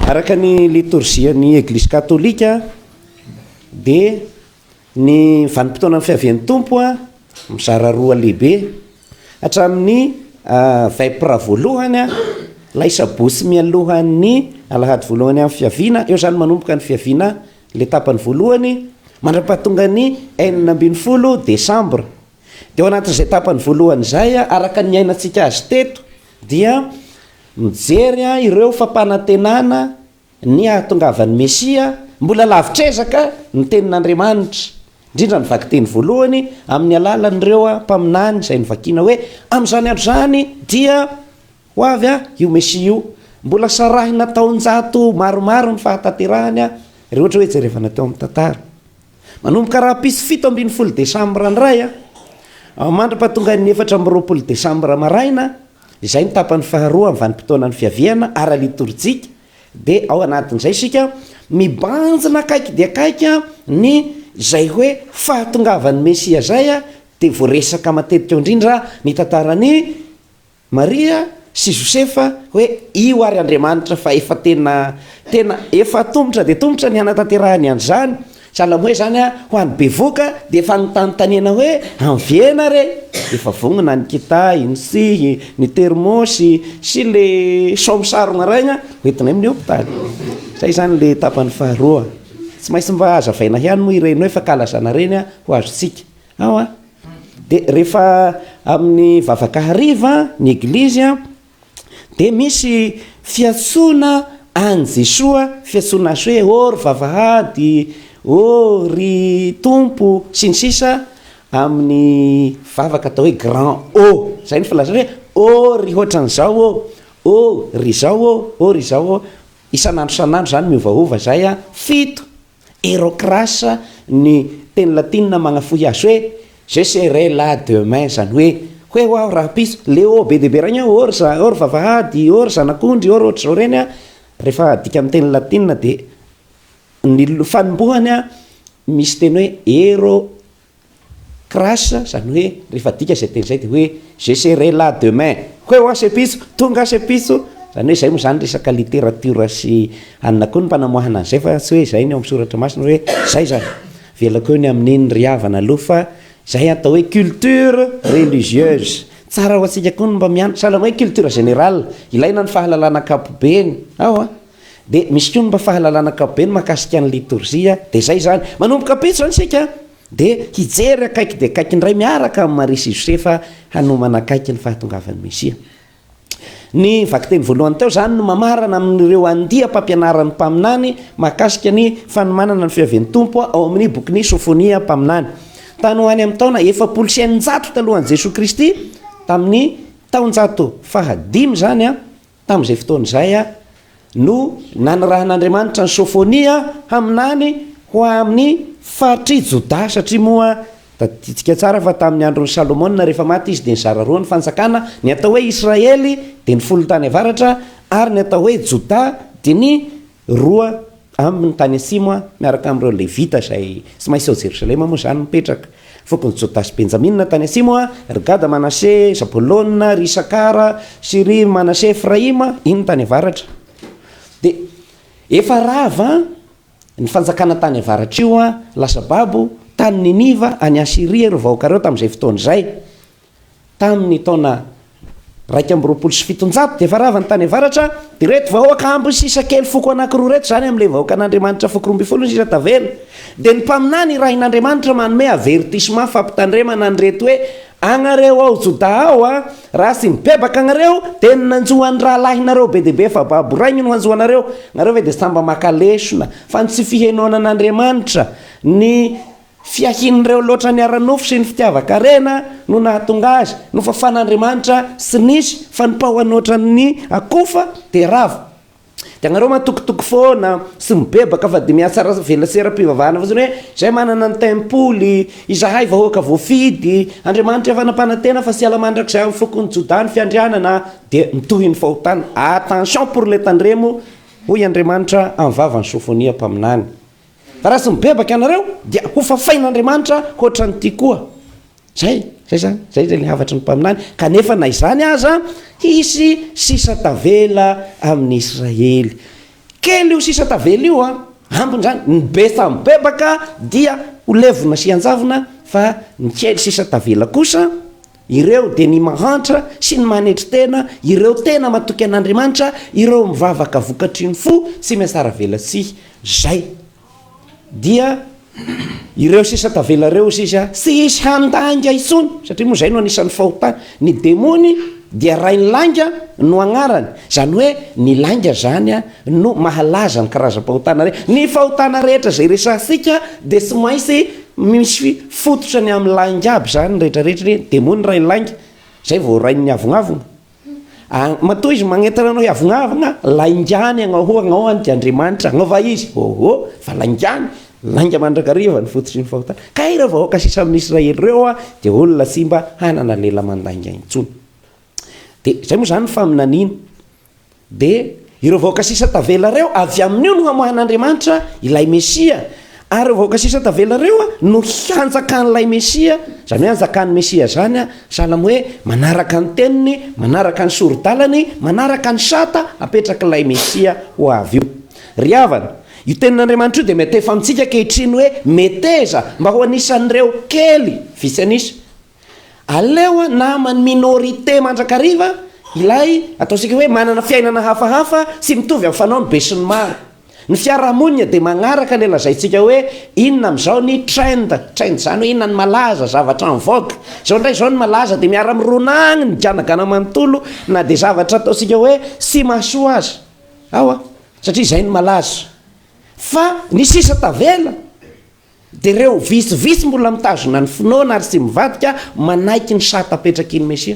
Araka ny litorzian'ny Eglizy Katolika dia ny vanim-potoanan'ny fiavian'ny Tompo mizara roa lehibe, hatramin'ny vepr voalohany, ilay sabotsy mialohan'ny alahady voalohany amin'ny fiaviana, eo izany manomboka ny fiaviana ilay tapany voalohany, mandra-pahatongan'ny enina ambin'ny folo desambra. Dia ao anatin'izay tapany voalohany izay, araka ny niainantsika azy teto, dia mijery ireo fampanantenana ny hahatongavan'ny Mesia, mbola lavitr'ezaka ny Tenin'Andriamanitra, indrindra ny vakiteny voalohany, amin'ny alalan'ireo mpaminany izay novakina hoe, Amin'izany andro izany dia ho avy io Mesia io. Mbola sarahina taonjato maromaro ny fahatanterahany, raha ohatra hoe jerevana teo amin'ny tantara. Manomboka rahampitso fito ambin'ny folo desambra indray an, mandra-pahatongan'ny efatra amby roapolo desambra maraina, izay ny tapany faharoa amin'ny vanim-potoanan'ny fiaviana ara-litorjika, dia ao anatin'izay isika mibanjina akaiky dia akaiky ny izay hoe fahatongavan'ny Mesia izay, dia voaresaka matetika ao indrindra ny tantaran'i. Maria sy Josefa hoe io ary Andriamanitra fa efa tena tena efa tomotra dia tomotra ny hanatanterahany an'izany sahala amin'ny hoe izany ho an'ny bevoka dia efa anontanintaniana hoe anviena re? efa vonona ny kitahy, ny tsihy, ny termosy sy ilay saomy sarogna raigna hoentinay amin'ny hopitaly. Izay izany ilay tapany faharoa. Tsy maintsy mba hazavaina ihany moa ireny hoe fankalazana ireny ho azontsika. Ao an! Dia rehefa amin'ny vavaka hariva ny eglizy an, dia misy fiantsoana an'i Jesoa, fiantsoana azy hoe ô ry vavahady, ô ry Tompo, sy ny sisa Amin'ny vavaka atao hoe grand ô, izay no filazana hoe ô ry hoatran'izao ô, ô ry izao ô, ô ry izao ô, isan'andro isan'andro izany miovaova izay an, fito. Herocras ny teny latinina magnafohy azy hoe Je serai là demain, izany hoe, Ho eo aho rahampitso. Ilay ô be dia be regny hoe or za, or vavahady, or zanak'ondry, or ohatr'izao ireny an, rehefa adika amin'ny teny latinina dia ny fanombohany an, misy teny hoe hero Crash, izany hoe rehefa adika izay teny izay dia hoe je serai là demain, Hoy hoa se pitso, tonga aho se pitso, izany hoe izay moa izany resaka literatiora sy anona koa ny mpanamoahana an'izay fa tsy hoe izay ny ao amin'ny soratra masina hoe izay izany. Avelako eo ny amin'iny ry havana aloha fa izay atao hoe culture religieuse. Tsara ho antsika koa ny mba mianatra, sahala amin'ny hoe culture générale, ilaina ny fahalalana ankapobeny. Ao an! Dia misy koa ny mba fahalalana ankapobeny mahakasika ny litorzia, dia izay izany. Manomboka ampitso izany isika dia hijery akaiky dia akaiky indray miaraka amin'i Maria sy i Josefa hanomana akaiky ny fahatongavan'ny Mesia. Ny vakiteny voalohany teo izany no mamarana amin'ireo andiam-pampianaran'ny mpaminany mahakasika ny fanomanana ny fiavian'ny Tompo ao amin'ny bokin'i Sofonia mpaminany. Tany ho any amin'ny taona efapolo sy eninjato talohan'i Jesoa Kristy, tamin'ny taonjato fahadimy izany, Tamin'izay fotoana izay no nanirahan'Andriamanitra an'i Sôfônia haminany ho amin'ny faritr'i Jodà, satria moa tadidintsika tsara fa tamin'ny andron'i Salômôna rehefa maty izy dia nizara roa ny fanjakana, ny atao hoe Israely dia ny folo tany avaratra ary ny atao hoe Jodà dia ny Roa ambiny tany atsimo aho miaraka amin'ireo Levita izay tsy maintsy ao Jerosalema moa izany mipetraka. Fokon'i Jodà sy Benjamina tany atsimo aho, ry Gada, Manase, Zabolona, ry Isakara sy ry Manase, Efraima, iny tany avaratra. Dia efa rava ny fanjakana tany avaratra io, lasa babo tany Niniva, any Asyria, ireo vahoaka ireo tamin'izay fotoana izay. Tamin' ny taona iraika amby roapolo sy fitonjato dia efa rava ny tany avaratra, ireto vahoaka amby sisa kely foko anankiroa ireto, izany amin' ilay vahoakan' Andriamanitra foko roa ambin'ny folo ny sisa tavela, dia ny mpaminany irahin' Andriamanitra manome avertisma fampitandremana an' ireto hoe, Anareo ao Jodà ao a, raha tsy mibebaka anareo dia ny nanjo an' ny rahalahinareo be dia be efa babo rainy no hanjo anareo, nareo ve dia samy mba maka lesona fa ny tsy fihenoana an' Andriamanitra, ny Fiahian'ireo loatra ny ara-nofo sy ny fitiavan-karena no nahatonga azy. Nofafan'Andriamanitra sy nisy fanompahany ohatran'ny akofa dia rava. Dia ianareo matokitoky foana sy mibebaka fa dia mihatsara vela seram-pivavahana fotsiny hoe izay manana ny tempoly, izahay vahoaka voafidy, Andriamanitra efa nampanantena fa tsy hiala mandrakizay amin'ny fokon'i Jodà ny fiandrianana dia mitohy ny fahotana. Attention pour les tandremo, hoy Andriamanitra amin'ny vavan'i Sofonia mpaminany. Raha tsy mibebaka ianareo dia hofafain'Andriamanitra hoatran'ity koa. Zay, zay zany, zay zay le havatry ny mpaminany, kanefa na izany aza hisy sisa tavela amin'ny Israely. Kely io sisa tavela io an, ambiny zany, ny be samy mibebaka dia ho levona sy hianjavona fa ny kely sisa tavela kosa Ireo dia ny mahantra sy ny manetry tena, ireo tena matoky an'Andriamanitra, ireo mivavaka vokatry ny fo, tsy miasaravelatsihy. Izay dia ireo sisa tavela ireo, hoy Sisa. Tsy hisy handainga intsony, satria moa izay no anisan'ny fahotany. Ny demony dia rain'ny lainga no agnarany. Izany hoe ny lainga izany no mahalaza ny karazam-pahotana rehetra. Ny fahotana rehetra izay resahantsika dia tsy maintsy Misy fototra ny amin'ny lainga aby zany rehetra rehetra ireny, de moa ny rain'ny lainga zay vao rain'ny avognaavogna an, matoa izy magnentana anao hiavognaavogna, laingany agnao ho agnao any dia Andriamanitra agnao va izy, ôhô fa laingany, lainga mandrakariva ny fototry ny fahotana, kay ireo vahoaka sisa amin'ny Israely ireo an dia olona tsy mba hanana lela mandainga intsony, de zay moa zany ny faminaniana, Dia ireo vahoaka sisa tavela ireo, avy amin'io no hamoahan'Andriamanitra ilay Mesia, ary ireo vahoaka sisa tavela ireo no hanjakan'ilay Mesia, izany hoe hanjakan'ny Mesia izany, sahala amin'ny hoe manaraka ny teniny, manaraka ny sori-dalany, manaraka ny sata apetrak'ilay Mesia ho avy io. Ry havana, io tenin'Andriamanitra io dia miantefa amintsika ankehitriny hoe meteza mba ho anisan'ireo kely vitsy an'isa, Aleo naman'ny minorité mandrakariva ilay ataontsika hoe manana fiainana hafahafa tsy mitovy amin'ny fanaon'ny besinimaro. Ny fiarahamonina dia magnaraka ilay lazaintsika hoe inona amin'izao ny trend, trend izany hoe inona ny malaza, zavatra en vogue. Izao indray izao ny malaza dia miara mirona agny ny ganagana manontolo na dia zavatra ataontsika hoe tsy mahasoa aza ao an, satria izay no malaza. Fa ny sisa tavela Dia ireo vitsivitsy mbola mitazona ny finoana ary tsy mivadika manaiky ny sata apetrakin'ny Mesia.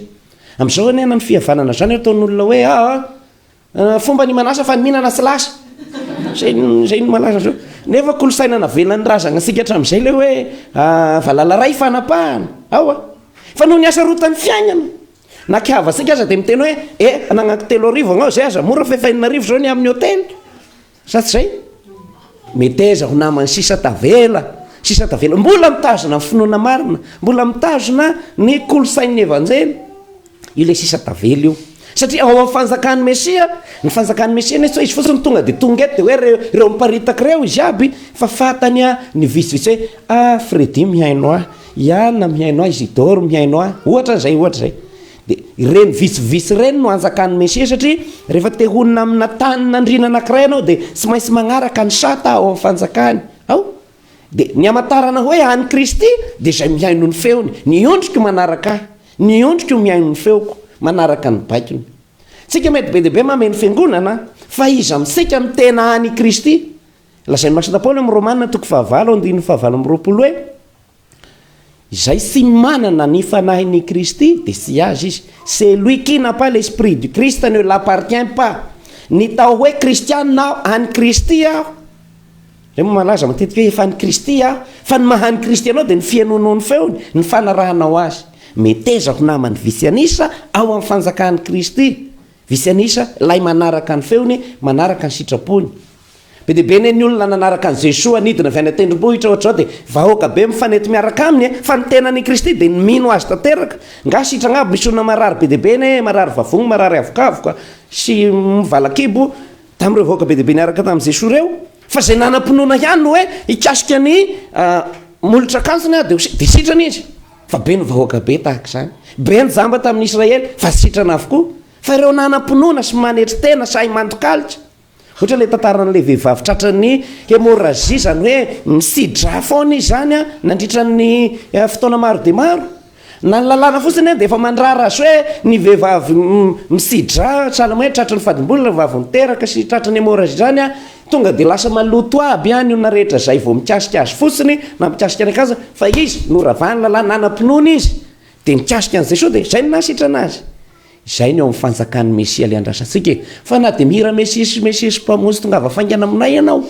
Amin'izao anie na ny fihavanana izany eo ataon'olona hoe aa fomba ny manasa fa ny mihinana tsy lasa. Izay izay no malaza amin'izao. Nefa kolosaina navelan'ny razagna antsika hatramin'izay ilay hoe aa valala iray fanapahana. Ao a! Fa noho ny hasarotan'ny fiaignana. Na ki havantsika aza dia miteny hoe e anagnako telo arivo agnao izay aza mora fa efa enina arivo izao ny amin'ny hotely. Sa tsy zay? Meteza ho namany sisa tavela, sisa tavela. Mbola mitazona ny finoana marina, mbola mitazona ny kolontsain'ny Evanjely io le sisa tavela io. Satria ao amin'ny fanjakan'ny Mesia, ny fanjakan'ny Mesia nefa tsy hoe izy fotsiny tonga dia tonga eto dia hoe reo, reo miparitaka reo izy aby fa fatany a ny vitsivitsy hoe ah Freddy mihaino ahy, Iana mihaino ahy, Isidore mihaino ahy, ohatra zay, ohatra zay. Dia ireny vitsivitsy ireny no anjakan'ny Mesia satria rehefa te honina amina tanin'andriana anankiray ianao dia tsy maintsy manaraka ny sata ao amin'ny fanjakany ao. Dia ny hamantarana hoe an'i Kristy dia izay mihaino ny feony. Ny ondriko manaraka ahy, ny ondriko mihaino ny feoko, manaraka ny baikony. Tsika mety be dia be mameno fiangonana fa iza amintsika no tena an'i Kristy? Lazain'ny Masina Paoly ao amin'ny Romana toko fahavalo andininy fahavalo amby roapolo hoe. Izay tsy manana ny Fanahin' i Kristy dia tsy azy izy. Celui qui n'a pas l'Esprit du Christ ne l'appartient pas. Ny tao hoe Kristiana aho, an' i Kristy aho, Ireo moa malaza matetika hoe efa an' i Kristy aho, fa ny maha an' i Kristy anao dia ny fihainoanao ny feony, ny fanarahanao azy. Meteza ho naman' ny vitsy anisa ao amin' ny fanjakan' i Kristy, vitsy anisa, ilay manaraka ny feony, manaraka ny sitrapony. Be dia be anie ny olona nanaraka an'i Jesoa nidina avy any an-tendrombohitra ohatra izao dia vahoaka be mifanety miaraka aminy e! Fa ny tenany i Kristy dia ny mino Azy tanteraka. Nga sitragna aby misy olona marary be dia be anie e! Marary vavony, marary avokavoka sy valakibo tamin'ireo vahoaka be dia be niaraka tamin'i Jesoa ireo. Fa izay nanam-pinoana ihany no hoe hikasika ny molotra akanjony aho dia ho sitrana, dia sitrana izy. Fa be ny vahoaka be tahaka izany. Be ny jamba tamin'ny Israely fa sitrana avokoa. Fa ireo nanam-pinoana sy manetry tena sahy mandokaloka. Ohatra ilay tantaran'ilay vehivavy tratran'ny hemorragie, izany hoe nisidra foana izy izany an, nandritra ny fotoana maro dia maro. Na ny lalàna fotsiny an dia efa mandrara azy hoe ny vehivavy misidra, sahala amin'ny hoe tratran'ny fadim-bola raha vao niteraka sy tratran'ny hemorragie izany an, tonga dia lasa maloto aby an, ny olona rehetra izay vao mikasika azy fotsiny na mikasika ny akanjony, fa izy noravan'ny lalàna, nanam-pinoana izy dia nikasika an'izay sao dia izay no nahasitrana azy. Izay ny ao amin'ny fanjakan'ny Mesia ilay andrasantsika e! Fa na dia mihira Mesiesy Mesiesy Mpamonjy tongava faingana aminay ianao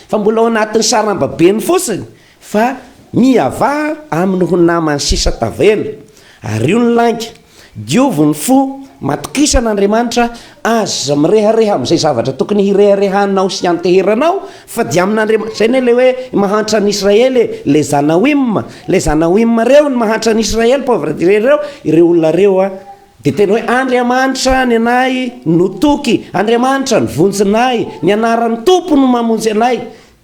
fa mbola ao anatin'ny sarambabeny fotsiny fa miavaha amin'ny ho namany sisa tavela. Ario ny lainga, diovy ny fo, matokisana Andriamanitra Aza mirehareha amin'izay zavatra tokony hireharehanao sy hianteheranao fa dia amin'Andriamanitra, izay anie ilay hoe mahantra an'i Israely e, ilay Zanaoim, ilay Zanaoim ireo no mahantra an'i Israely, pauvre dire ireo, ireo olona ireo an, dia tena hoe Andriamanitra ny anay no toky, Andriamanitra no vonjinay, ny anaran'ny Tompo no mamonjy anay,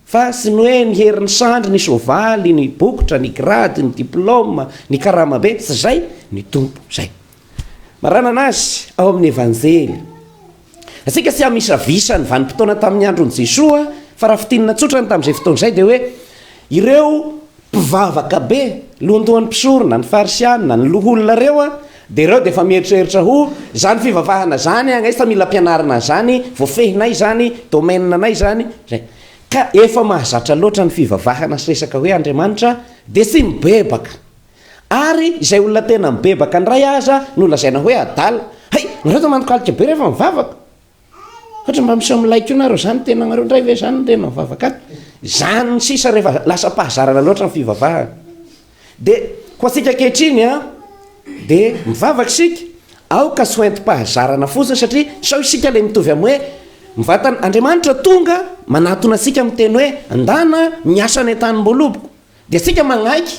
fa tsy ny hoe ny herin'ny sandry, ny soavaly, ny bokotra, ny grady, ny diplôme, ny karama be, tsy izay ny Tompo, izay. Maranana azy ao amin'ny Evanjely. Antsika tsy hamisavisa ny vanim-potoana tamin'ny andron'i Jesoa, fa raha fintinina tsotra ny tamin'izay fotoana izay dia hoe, ireo mpivavaka be, lohandohan'ny mpisorona, ny Farisianina, ny loholona ireo dia ireo dia efa mieritreritra ho, izany fivavahana izany ange efa mila ampianarina an'izany, voafehinay izany, domaine anay izany, izay. Ka efa mahazatra loatra ny fivavahana sy resaka hoe Andriamanitra dia tsy mibebaka. Ary izay olona tena mibebaka indray aza no lazaina hoe adala. Hay, nareo tena manokalika be rehefa mivavaka. Ohatra mba miseho milay koa nareo zany, tenanareo indray ve zany no tena mivavaka ato. Zany sisa rehefa lasa am-pahazarana loatra ny fivavahana. Dia ho antsika ankehitriny an, dia mivavaka isika, aoka tsy ho entim-pahazarana fotsiny satria sao isika ilay mitovy amin'ny hoe mivantana, Andriamanitra tonga manatona antsika miteny hoe, ndana miasa any an-tanimboaloboko. Dia isika manaiky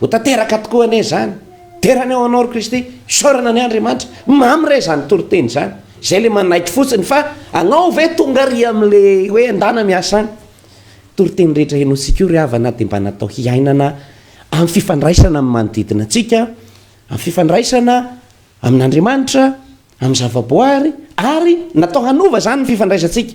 ho tanteraka tokoa anie izany, Dera ny ao anao ry Kristy, isaorana ny Andriamanitra, mamy re izany toriteny izany, izay ilay manaiky fotsiny fa anao ve tonga ry amin'ilay hoe andana miasa any? Toriteny rehetra henointsika io ry havana dia mba natao hiainana amin'ny fifandraisana amin'ny manodidina antsika, amin'ny fifandraisana amin'Andriamanitra, amin'ny zavaboary ary natao hanova izany ny fifandraisantsika.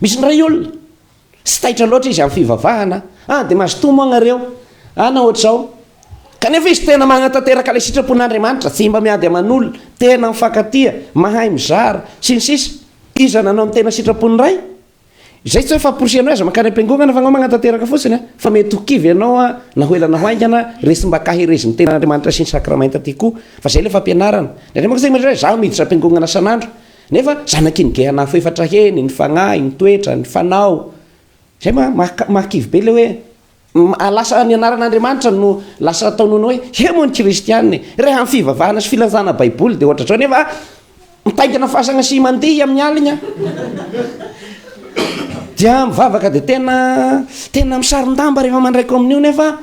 Misy indray olona, tsy taitra loatra izy amin'ny fivavahana, ah dia mazotoa moa ianareo, ah na ohatr'izao. Kanefa izy tena manatanteraka ilay sitrapon'Andriamanitra, tsy mba miady aman'olona, tena mifankatia, mahay mizara, sy ny sisa Iza nanao ny tena sitrapon'ny Ray? Izay tsy hoe famporisihana hoe aza mankany am-piangonana fa anao manatanteraka fotsiny an! Fa mety ho kivy ianao an, na ho ela na ho haingana, resim-ba kaherezin'ny tenan'Andriamanitra sy ny sakramenta ity koa, fa izay ilay fampianarana. Ny Andriamanitra tsy miditra hoe izaho miditra am-piangonana san'andro, Nefa zanaky ny gehana afo efatra heny, ny fagnahy, ny toetra, ny fanao. Zay ma maha mahakivy be le hoe ah lasa ny anaran'Andriamanitra no lasa ataon'olo hoe he moa ny kristiana e! Reha am fivavahana sy filazana baiboly de ohatr'zao nefa mitaingina fasagna sy mandihy amin'ny aligna dia mivavaka de tena tena misaron-damba rehefa mandray kaominio nefa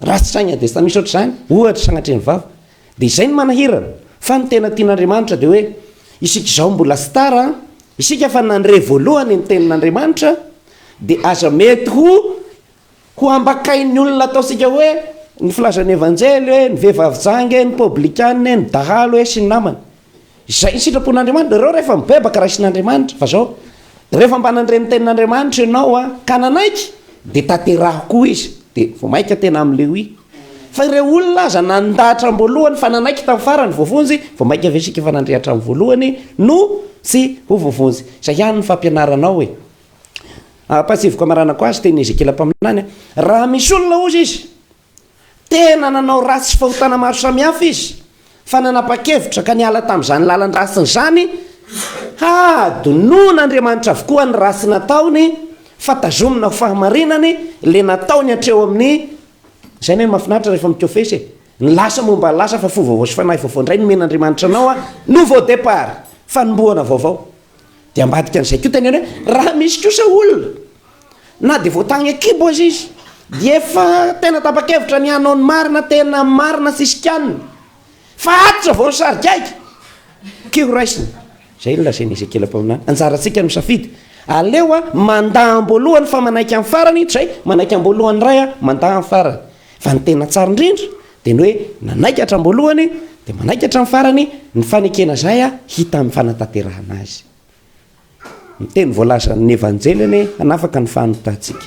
Raha tsy saigna dia tsy misy ohatr'izany, ohatra, sanatria ny vava. Dia izay no manahirana. Fa ny tena tian'Andriamanitra dia hoe, isika izao mbola tsy tara an, isika efa nandre voalohany ny tenin'Andriamanitra, dia aza mety ho ho ambakain'ny olona ataontsika hoe, ny filazan'ny Evanjely hoe, ny vehivavy janga e, ny poblikana e, ny dahalo e, sy ny namany. Izay ny sitrapon'Andriamanitra. Ireo rehefa mibebaka raisin'Andriamanitra, fa zao, rehefa mba nandre ny tenin'Andriamanitra ianao a, ka nanaiky, dia tanteraho koa izy, dia vao maika tena am Lewi. Fa ireo olona aza nanda hatramin'ny voalohany fa nanaiky tamin'ny farany voavonjy, vao maika ve isika efa nandre hatramin'ny voalohany no tsy ho voavonjy. Izay ihany ny fampianaranao e. Ampahatsieviko amaranako azy, tenin'i Ezekiela mpaminany, raha misy olona hozy izy, Tena nanao ratsy sy fahotana maro samihafa izy, fa nanapa-kevitra ka niala tamin'izany lalan-dratsiny izany, Hadinoan' Andriamanitra avokoa ny ratsy nataony, fa tazomina ho fahamarinany ilay nataony hatreo amin'ny, izay anie no mahafinaritra rehefa mikofesy e, ny lasa momba ny lasa fa fo vaovao sy fanahy vaovao indray nomen'Andriamanitra anao, nouveau départ, fanombohana vaovao. Dia ambadika an'izay koa teneno hoe raha misy kosa olona na dia voatagny an-kibo aza izy dia efa tena tapa-kevitra ny hanao ny marina, tena marina tsisy kianina, fa ato iza vao ny sarigaika? Key ho raisina izay no lazain'i Ezekiela mpaminany. Anjarantsika ny misafidy, aleo aho mandà am-boalohany fa manaiky amin'ny farany, toy izay manaiky am-boalohany indray aho, mandà amin'ny farany. Fa ny tena tsara indrindra dia ny hoe nanaiky hatramin'ny voalohany dia manaiky hatramin'ny farany ny fanekena izay hita amin'ny fanatanterahana azy. Ny teny voalazan'ny Evanjely anie hanafaka ny fahanontantsika.